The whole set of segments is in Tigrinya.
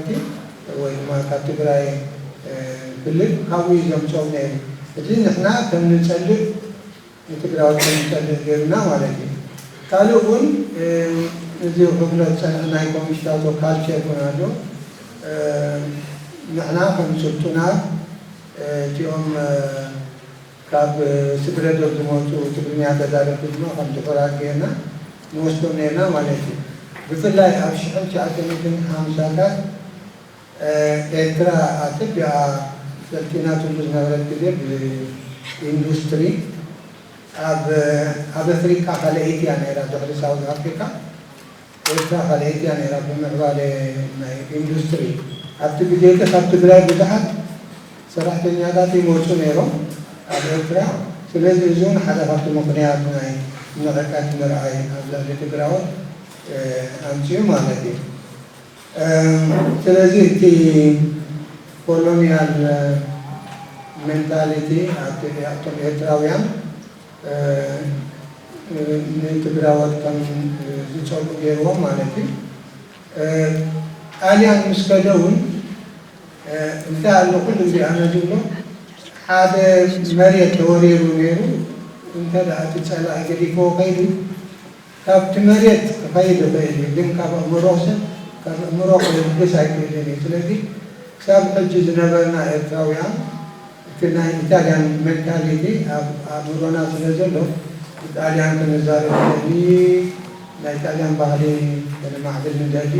ፓርቲ ወይ ድማ ካብ ትግራይ ክልል ካብኡ እዩ ዘምፅኦም ነይሩ። እዚ ንሕና ከም ንፀልእ ንትግራዎት ከም ንፀልእ ገይሩና ማለት እዩ። ካልእ እውን እዚ ክብሎ ዝፀንሐ ናይ ኮሚሽታቶ ካልቸር እውን ኣሎ። ንሕና ከም ስልጡናት እቲኦም ካብ ስግረ ዶብ ዝመጹ ትግርኛ ተዛረብቲ ድማ ከም ጥዑራት ገይርና ንወስዶም ኔርና ማለት እዩ። ብፍላይ ኣብ ሽሕን ትሽዓተ ሚእትን ሓምሳታት ኤርትራ ኣጸቢቓ ሰልጢናትሉ ዝነበረት ግዜ ብኢንዱስትሪ ኣብ ኣብ ኣፍሪቃ ካልኣይቲ እያ ኔራ ድሕሪ ሳውዝ ኣፍሪቃ። ኤርትራ ካልኣይቲ እያ ነይራ ብምዕባለ ናይ ኢንዱስትሪ። ኣብቲ ግዜ እቲ ካብ ትግራይ ብዙሓት ሰራሕተኛታት ይመጹ ነይሮም ኣብ ኤርትራ። ስለዚ እዚ እውን ሓደ ካብቲ ምኽንያት ናይ ንዕቀት ምርኣይ ኣብ ልዕሊ ትግራዎት ኣምጺኡ ማለት እዩ። ስለዚ እቲ ኮሎንያል ሜንታሊቲ ኣብቶም ኤርትራውያን፣ ንትግራዎት ከም ዝጸልኡ ገይርዎም ማለት እዩ። ጣልያን ምስ ከደ እውን እንታይ ኣሎ ኩሉ ግዜ ኣነ ዝብሎ ሓደ መሬት ተወሪሩ ነይሩ እንተ እቲ ጸላኢ ገዲፍዎ ከይዱ ካብቲ መሬት ክኸይድ ይኽእል እዩ ግን ካብ ኣእምሮ ሰብ ካብ ኣእምሮ ክልግስ ኣይክእልን እዩ ስለዚ ክሳብ ሕጂ ዝነበርና ኤርትራውያን እቲ ናይ ኢታልያን ሜንታሊቲ ኣብ ኣእምሮና ስለ ዘሎ ንጣልያን ክንዛረብ ንደሊ ናይ ጣልያን ባህሊ ከነማዕብል ንደሊ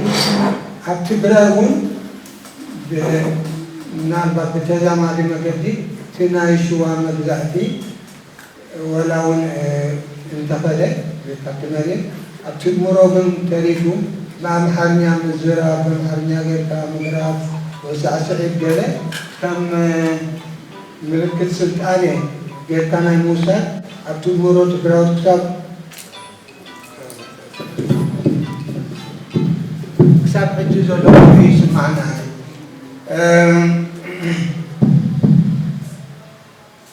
ኣብ ትግራይ ውን ምናልባት ብተዛማዲ መገዲ እቲ ናይ ሽዋ መግዛእቲ ወላ ውን እንተኸደ ካብቲ መሬት ኣብቲ እምሮ ግን ተሪፉ ብኣምሓርኛ ምዝራብ ብኣምሓርኛ ጌርካ ምድራፍ ወይ ሳዕስዒት ገለ ከም ምልክት ስልጣነ ጌርካ ናይ ምውሳድ ኣብቲ እምሮ ትግራዎት ክሳብ ሕጂ ዘሎ ኮይኑ ይስማዓና እዩ።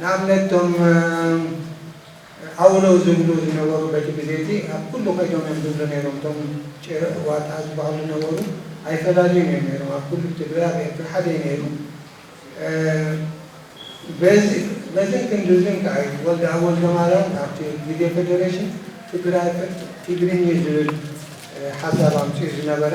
ንኣብነት እቶም ዓውሎው ዝብሉ ዝነበሩ በቲ ግዜ እቲ ኣብ ኩሉ ከይዶም እዮም ዝብሉ ነይሮም እቶም ጭረ ዋጣ ዝበሃሉ ዝነበሩ ኣይፈላልዩን እዮም ነይሮም ኣብ ኩሉ ብትግራይ ኣብ ኤርትራ ሓደ እዩ ነይሩ በዚ በዝን ክንድዝን ከኣ እዩ ወልደኣብ ወልደማርያም ኣብቲ ግዜ ፈደረሽን ትግራይ ፍርቅ ቲግርኚ ዝብል ሓሳብ ኣምጺኡ ዝነበረ።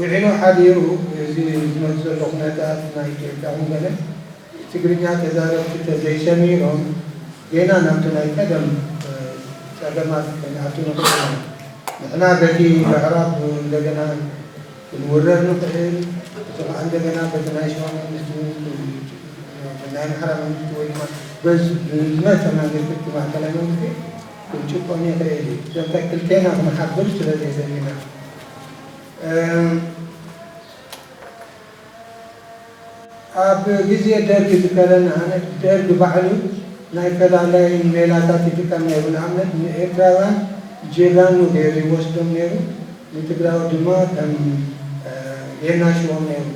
ውዒሉ ሓዲሩ እዚ ዝመጽእ ዘሎ ኩነታት ናይ ኢትዮጵያ ውን ገለ ትግርኛ ተዛረብቲ ተዘይሰሚሮም ጌና ናብቲ ናይ ቀደም ጸገማት ክንኣቱ ንኽእል ኢና። ንሕና በቲ ምዕራብ እንደገና ክንውረር ንኽእል እቲ ኸኣ እንደገና በቲ ናይ ሽዋ መንግስቲ ውን ናይ ኣምሓራ መንግስቲ ወይ ድማ ብዝመጸ መንግስቲ እቲ ማእከላይ መንግስቲ ክንጭቆን ይኽእል እዩ። ዘንተ ክልቴና ክንሓብር ስለዘይደሊና። ኣብ ግዜ ደርግ ዝከረን ኣነት ደርግ ባዕሉ ናይ ፈላላይን ሜላታት ይጥቀም ነይሩ ንኣብነት ንኤርትራውያን ጂራኑ ገይሩ ይወስዶም ነይሩ ንትግራዎት ድማ ከም የናሽዎም ነይሩ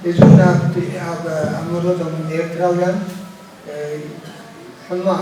እዚ ውን ኣብቲ ኣብ ኣእምሮቶም ኤርትራውያን ሕማቅ